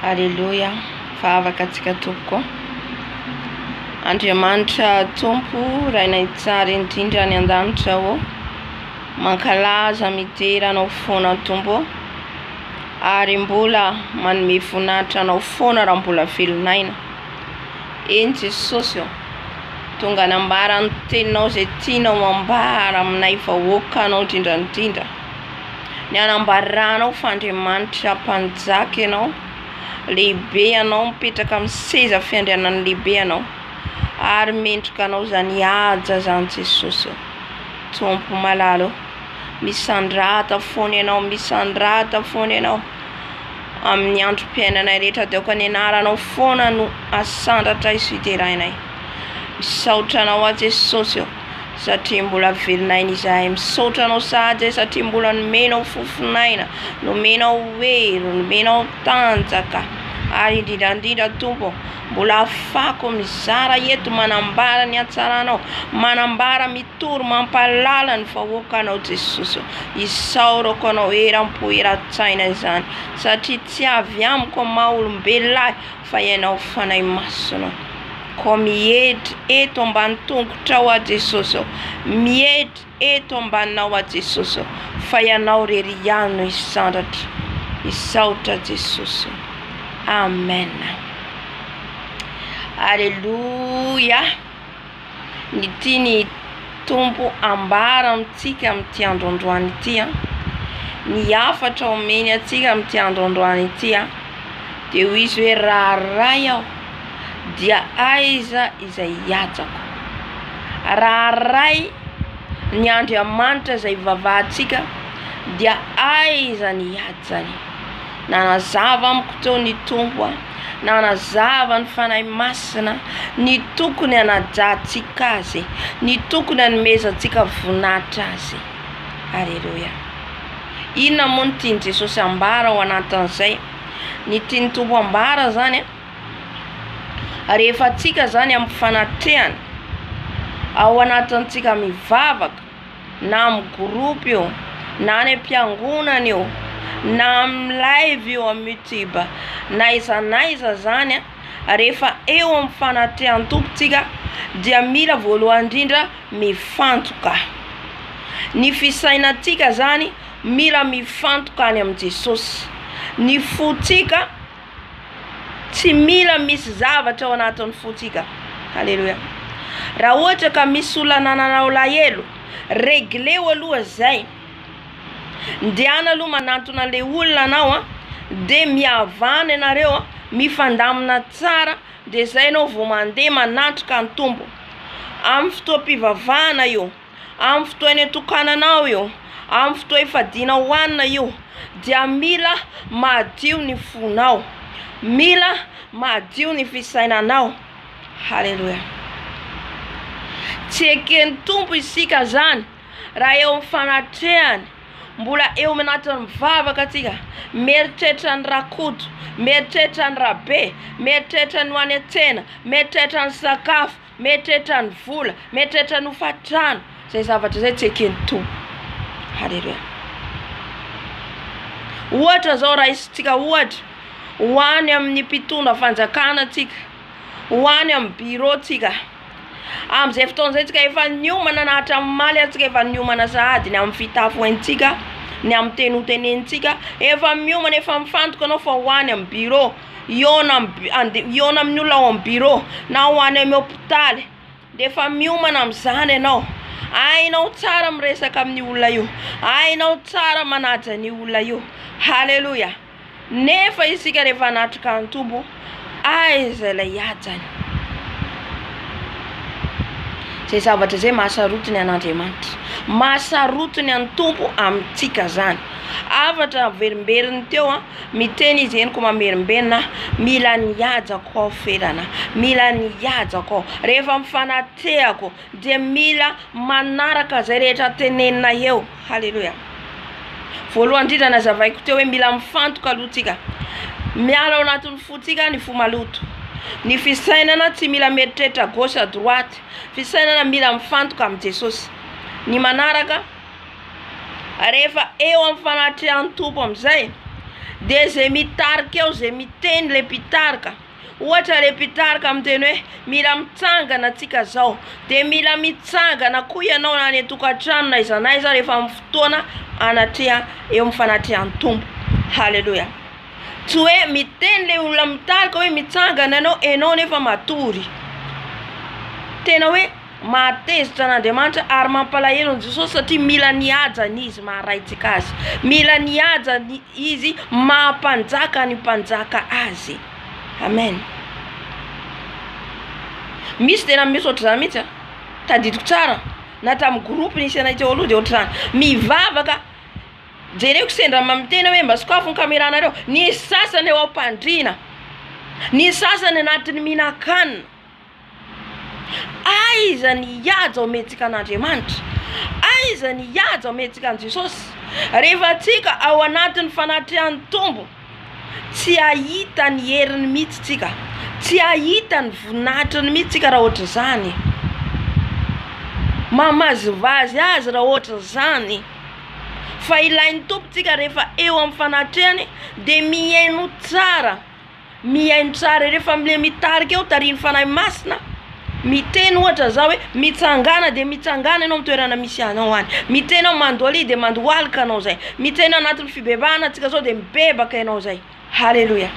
Aleloia, fa avaka antsika tompoko. Andriamanitra tompo, raina hitsara indrindra any an-danitra ô. Mankalaza midera anao foana tompo ô. Ary mbola manome voninahitra anao foana raha mbola velon'aina. Eny Jesosy ô, tonga anambara ny teninao izay tianao ambara aminay vahoakanao indrindra indrindra. Ny anambarahanao fa Andriamanitra mpanjaka ianao, lehibe ianao, mipetraka amin'ny seza fiandrianan'ny lehibe ianao, ary mendrika anao izany haja izany Jesosy ô. Tompo malala ô, misandrata foana ianao, misandrata foana ianao, amin'ny androm-piainanay rehetra dia aoka ny anaranao foana no asandratra sy hiderainay. Misaotra anao aho Jesosy ô. satria mbola velona aina izahay misaotra anao sahady e satria mbola nomenao fofon'aina nomenao hery nomenao tanjaka ary indrindra indrindra tompo mbola afako mizara eto manambara ny hatsaranao manambara mitory mampahalala ny vahoaka anao jesosy isaorako anao eram-po eran-tsaina izany satria tsy avy amiko maha olombelona ahy Fa ianao Fanahy Masina ô, miedry eto ambany tongotrao aho Jesosy ô, miedry eto ambaninao aho Jesosy ô, fa ianao irery ihany no hisandratra, misaotra Jesosy ô, Amen, Aleloia. ny tian'ny Tompo ambara amintsika amin'ity andro androany ity, ny hafatra omeny antsika amin'ity andro androany ity dia hoy izy hoe raha Ray aho dia aiza izay hiatrako? Raha Ray ny Andriamanitra izay ivavahantsika dia aiza ny hiatrany? Nanazava amiko teo ny Tompo a! nanazava ny Fanahy Masina ny tokony hanajantsika Azy, ny tokony hanomezantsika voninahitra Azy. Aleloia. Inona moa no tian'i Jesosy ambara ao anatin'izay? Ny tian'ny Tompo ambara zany a, rehefa antsika zany amin'ny fanatrehana, ao anatintsika mivavaka, na amin'ny groupe io, na any am-piangonana io, na amin'ny live io amin'ny youtube, na aiza na aiza zany a, rehefa eo amin'ny fanatrehan'ny Tompo tsika dia mila voalohany ndrindra mifantoka, ny fisainantsika zany mila mifantoka any amin'i Jesosy, ny fontsika. Tsy mila misy zavatra ao anatin'ny fontsika. Haleloia. Raha ohatra ka misy olona nanana alahelo, regleo aloha izay. Ndehana aloha manantona an'ilay olona anao a, dia mihavana ianareo a, mifandamina tsara, dia izay ianao vao mandeha manatrika ny Tompo. Amin'ny fotoam-pivavahana io. Amin'ny fotoa eny an-tokananao io, amin'ny fotoa ifadiana hohanina io dia mila madio ny fonao, mila madio ny fisainanao. Haleloia. Tsy eken'ny Tompo isika izany raha eo amin'ny fanatrehany, mbola eo anatin'ny mivavaka tsika, mieritreritra ny ra-koto, mieritreritra ny ra-be, mieritreritra ny ho any an-tsena, mieritreritra ny sakafo. Mieritreritra ny vola, mieritreritra ny hofa-trano, izay zavatra izay tsy eken'ny Tompo. Haleloia. Ohatra izao raisintsika ohatra, ho any amin'ny mpitondra fanjakana tsika, ho any amin'ny bureau tsika, amin'izay fotoana izay tsika efa niomana na hatramin'ny omaly aza tsika efa niomana sahady ny amin'ny fitafy ho haintsika, ny amin'ny teny hotenenintsika, efa miomana efa mifantoka anao fa ho any amin'ny bureau. hihaona amin'ny hihaona amin'ny olona ao amin'ny birao na ho any amin'ny hopitaly dia efa miomana amin'izany ianao, hainao tsara miresaka amin'io olona io, hainao tsara manaja an'io olona io, haleloia, nefa isika rehefa hanatrika ny Tompo aiza ilay hajany? izay zavatra izay mahasarotiny an'Andriamanitra, mahasarotiny an'ny Tompo amintsika izany, hafatra averimberin'ny teo an. Miteny izy henoko mamerimberina aho, mila ny hajako aho ferana, mila ny hajako aho. Rehefa mifanatrehako dia mila manaraka izay rehetra tenenina eo. Haleloia. Voalohany indrindra nazavaiko teo hoe mila mifantoka aloha tsika. Miala ao anatin'ny fontsika ny fo maloto. Ny fisainana tsy mila mieritreritra gauche à droite. Fisainana mila mifantoka amin'i Jesosy. Ny manaraka. rehefa eo amin'ny fanatrehan'ny Tompo amin'izay dia izay mitarika eo izay miteny ilay mpitarika, ohatra ilay mpitarika miteny hoe mila mitsangana tsika zao de mila mitsangana koa ianao na any an-tokantrano na aiza na aiza rehefa amin'ny fotoana anatreha eo amin'ny fanatrehan'ny Tompo, haleloia, tsy hoe miteny ilay olona mitarika hoe mitsangana ianao, ianao nefa matory, tena hoe. Mahatezitra an'Andriamanitra ary mampalahelo an'i Jesosy satria mila ny hajany izy maharaintsika azy. Mila ny hajany izy maha-mpanjaka ny mpanjaka azy. Amen. Misy dia nameso ohatr'izany mihitsy a. Tadidiko tsara na tamin'ny groupe nisy anay teo aloha dia ohatr'izany. Mivavaka, jereko sendra amin'ny tena hoe mba sokafy ny caméra-nareo. Nisy sasany eo am-pandriana, nisy sasany anatin'ny mihinan-kanina. Aiza ny hihaja ao mihetsika an'Andriamanitra? Aiza ny hihaja ao mihetsika an'i Jesosy? Rehefa antsika ao anatin'ny fanatrehan'ny Tompo, tsy hahita ny heriny mihitsy tsika, tsy hahita ny voninahitriny mihitsy tsika raha ohatra izany e, mamazivazy azy raha ohatra izany, fa ilain'ny Tompo tsika rehefa eo amin'ny fanatrehany de mihaino tsara Mihaino tsara ireo fa le mitarika eo tarihin'ny Fanahy Masina miteny ohatra izao hoe mitsangàna dia mitsangàna ianao amin'ny toerana misy anao any, miteny hoe mandoalia dia mandohalika anao izay, miteny hoe anatin'ny fibebahana antsika izao dia mibebaka ianao izay. Haleloia!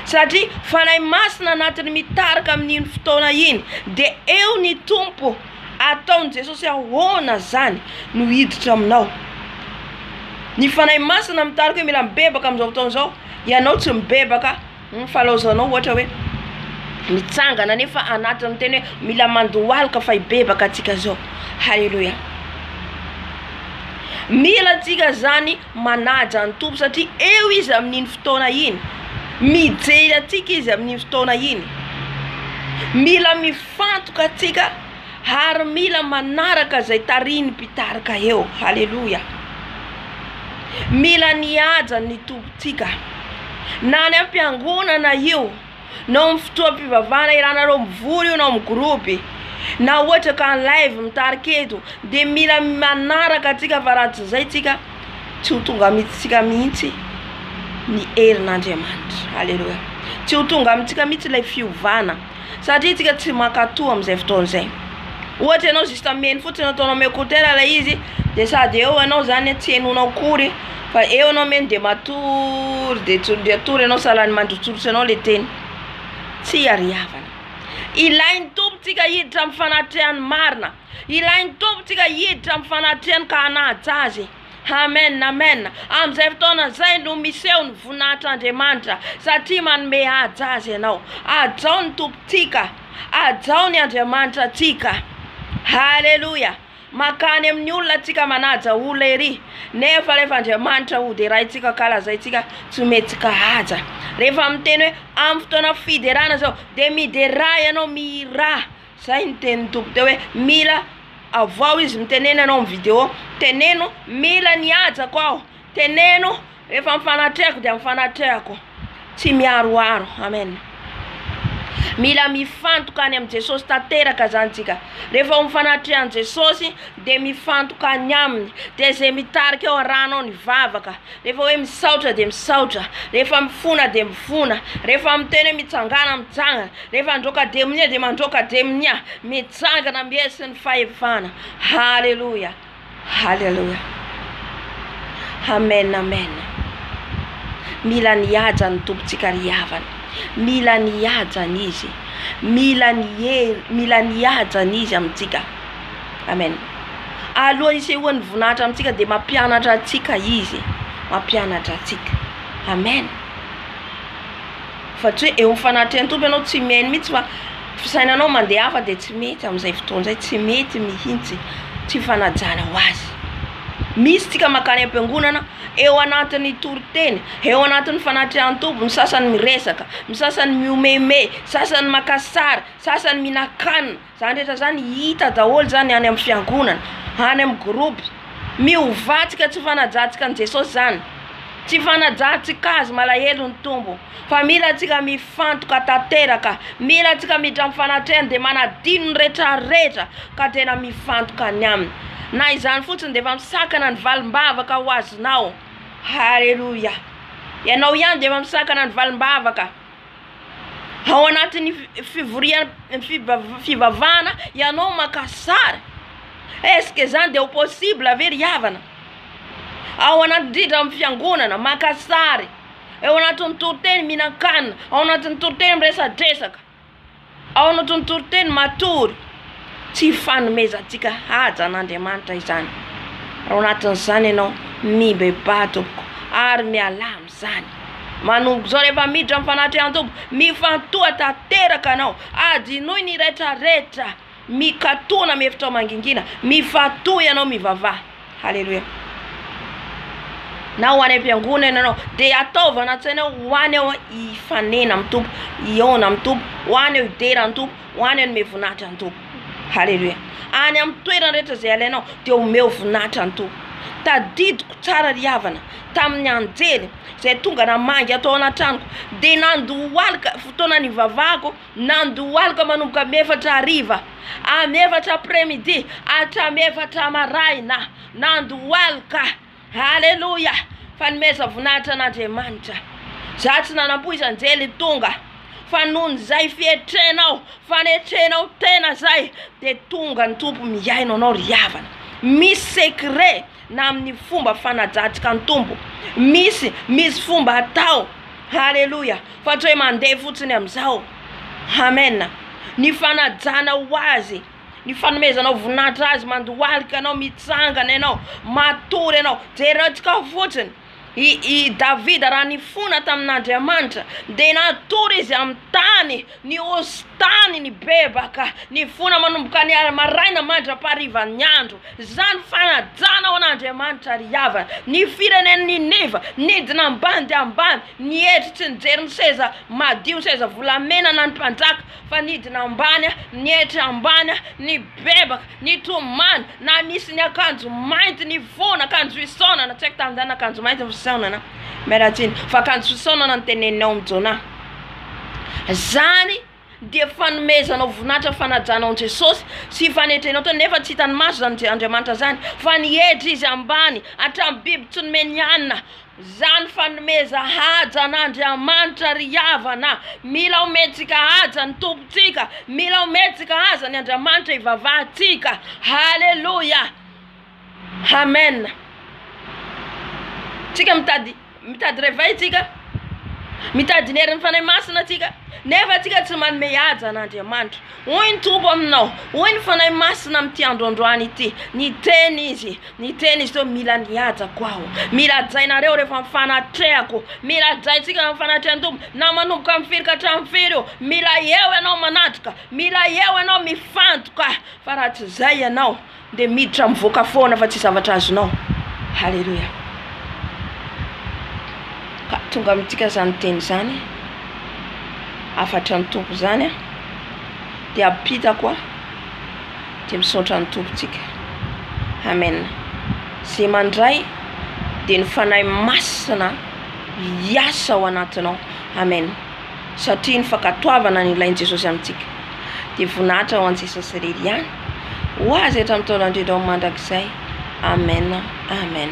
Satria Fanahy Masina anatiny mitarika amin'iny fotoana iny dia eo ny Tompo ataon'i Jesosy ahoana izany no hiditra aminao. Ny Fanahy Masina mitarika hoe mila mibebaka amin'izao fotoana izao. Ianao tsy mibebaka hum falaozanao ohatra hoe mitsangana nefa anatiny miteny hoe mila mandohalika fa hibebaka atsika zao haleloia mila atsika zany manaja ny tompo satria eo izy amin'iny fotoana iny mijery atsika izy amin'iny fotoana iny mila mifantoka atsika ary mila manaraka izay tarihin'ny mpitarika eo. Haleloia! Mila ny hajan'ny Tompontsika, na any am-piangonana io, na ao amin'ny fotoam-pivavahana ianareo mivory io, na ao amin'ny groupe, na ohatra ka en live mitarika eto, dia mila manaraka antsika fa raha tsy izay tsika tsy ho tonga amintsika mihitsy ny herin'Andriamanitra. Haleloia! Tsy ho tonga amintsika mihitsy ilay fiovana. Satria tsika tsy mankato amin'izay fotoana izay. Ohatra ianao juste mihaino fotsiny ataonao am écouteur ilay izy de sady eo ianao zany tsy henonao akory fa eo ianao mihaino de matory de tsondry atory ianao sahalan'ny mandrotsirotsy anao le teny. Tsy iariavana. Ilain'ny Tompontsika hiditra am fanatrehany marina. Ilain'ny Tompontsika hiditra am fanatrehany ka hanaja Azy. Amen amen amin'izay fotoana izay no miseho ny voninahitr'Andriamanitra satria manome haja azy ianao hajao ny tompontsika hajao ny Andriamanitra antsika haleloia makany amin'ny olona antsika manaja olona ery nefa rehefa Andriamanitra hoderaintsika ka lazaintsika tsy omentsika haja rehefa miteny hoe amin'ny fotoana fiderana izao dia midera ianao mihirà Zay ny tenin'ny Tompo teo hoe mila avoaho izy mitenena ianao amin'ny vidéo teneno mila ny hajako aho teneno rehefa mifanatrehako dia mifanatrehako tsy miharoharo amen mila mifantoka any amin'i Jesosy tanteraka zany tsika rehefa ho mifanatreha an'i Jesosy dia mifantoka any aminy dia ze mitarika eo arahanao ny vavaka Rehefa hoe misaotra dia misaotra, rehefa mifona dia mifona, rehefa miteny hoe mitsangàna mitsangana, rehefa handroaka dia minia dia mandroaka dia minia, mijangana mihesy ny fahefana. Haleloia, haleloia, amen, amen, mila ny haja ny Tompontsika ry havana, mila ny hajany Izy, mila ny hel- mila ny hajany Izy amintsika. Amen. Alohan'ny hisehoan'ny voninahitra amintsika dia mampianatra antsika Izy e. Mampianatra antsika. Amen. Fa tsy hoe eo amin'ny fanatrehan'ny Tompo ianao tsy mihaino mihitsy fa fisainanao mandeha hafa dia tsy mety amin'izay fotoana izay, tsy mety mihitsy, tsy fanajana ho azy. Misy tsika mankany am-piangonana eo anatin'ny toriteny, eo anatin'ny fanatrehan'ny Tompo, ny sasany miresaka, ny sasany mihomehimehy, sasany maka sary, sasany mihinan-kanina, Izany rehetra izany hita daholo izany any amin'ny fiangonana, any amin'ny groupe. Mihovatsika tsy fanajantsika an'i Jesosy izany, tsy fanajantsika Azy malahelo ny Tompo, fa mila antsika mifantoka tanteraka, mila antsika miditra amin'ny fanatrehany dia manadino ny rehetra rehetra ka tena mifantoka any aminy, na izany fotsiny dia efa misakana ny valim-bavaka ho azonao, haleloia, ianao ihany dia efa misakana ny valim-bavaka. Ao anatin'ny fivorian- fivav- fivavahana ianao maka sary, est ce que zany de ho possible ve ry havana? Ao anaty indrindra amin'ny fiangonana maka sary, eo anatin'ny toriteny mihinan-kanina, ao anatin'ny toriteny miresadresaka. Ao no tontoriteny matory tsy hifanomezantsika haja an'Andriamanitra izany, raha ao anatin'izany ianao, mibebaha tompoko ary mialà amin'izany. Manomboka izao rehefa miditra amin'ny fanatrehan-tompo, mifantoha tanteraka anao, adinoy ny retraretra. Mikatona mihevitra ho mangingina, mifatoha ianao mivavaha. Haleloia. Na ho any am-piangonana ianao, dia ataovy anaty saina hoe ho any aho hifanena amin'ny Tompo, hihaona amin'ny Tompo, ho any aho hidera ny Tompo, ho any aho hanome voninahitra ny Tompo. Haleloia. Any amin'ny toerana rehetra izay alainao dia omeo voninahitra ny Tompo. Tadidiko tsara ry havana tamin'ny anjely izay tonga namangy ahy tao anaty tranoko, dia nandohalika fotoana nivavahako Nandohalika manomboka am efatra hariva, am efatra après midi, hatram efatra maraina, nandohalika, aleloia, fanomezan voninahitra an Andriamanitra, za tsy nanampoizanjely tonga, fa nohon zay fietrenao, fanetrenao tena zay, de tonga ny Tompo mihaino anao ry havana, misy secret. na amin'ny fomba fanajatsika ny Tompo, misy, misy fomba atao, haleloia, fa tsy hoe mandeha fotsiny amin'izao, amen, ny fanajana ho Azy, ny fanomezanao voninahitra Azy, mandohalika ianao, mitsangana ianao, matory ianao, jerentsika fotsiny. I i Davida raha nifona tamin'Andriamanitra dia natory izy amin'ny tany, ny hosin-tany nibebaka, nifona manomboka ny a- maraina mandra-paharivan'ny andro. Izany fanajana ho an'Andriamanitra ry havana. Ny firenen'i Niniva nidina ambany dia ambany, nietry tsy nijery ny seza madio, ny seza volamena na ny mpanjaka fa nidina ambany, nietry ambany, nibebaka. Ny tomany na nisy ny akanjo mainty ny foana akanjo fisaonana tsy haiko tamin'ny zany akanjo mainty ny fisaonana miala tsiny fa akanjo fisaonana no teneninao amin'i Jonah zany dia fanomezanao voninahitra fanajana ao Jesosy sy fanetrenao tena nefa tsy hitan'ny maso zany Andriamanitra zany fa ny hetra izy ambany hatramin'ny biby tsy nomeny hanina Zany fanomeza haja an'Andriamanitra ry havana a! Mila omentsika haja ny Tompontsika, mila omentsika haja ny Andriamanitra ivavahantsika. Haleloia! Amen! Tsika mitady mitady réveil tsika, mitady ny herin'ny Fanahy Masina tsika, nefa tsika tsy manome haja an'Andriamanitra. Hoy ny Tompo aminao, hoy ny Fanahy Masina amin'ity andro androany ity, niteny Izy, niteny Izy teo, mila ny hajako aho, mila hajainareo rehefa ny fanatrehako, mila hajaintsika ny fanatrehan'ny Tompo, na manomboka amin'ny firy ka hatramin'ny firy io, mila eo ianao manatrika, mila eo ianao mifantoka, fa raha tsy izay ianao, Dia miditra mivoaka foana fa tsy zavatra azonao. Haleloia. Ka tonga amintsika izany teny izany. Hafatry ny Tompo izany a. Dia ampitako a. Dia misaotra ny Tompo tsika. Amen. Ze mandray dia ny Fanahy Masina hiasa ao anatinao. Amen. Satria ny fankatoavana ny ilain'i Jesosy amintsika dia voninahitra ho an'i Jesosy irery ihany. Ho Azy hatramin'ny taona indrindra ho mandrakizay. Amen! Amen!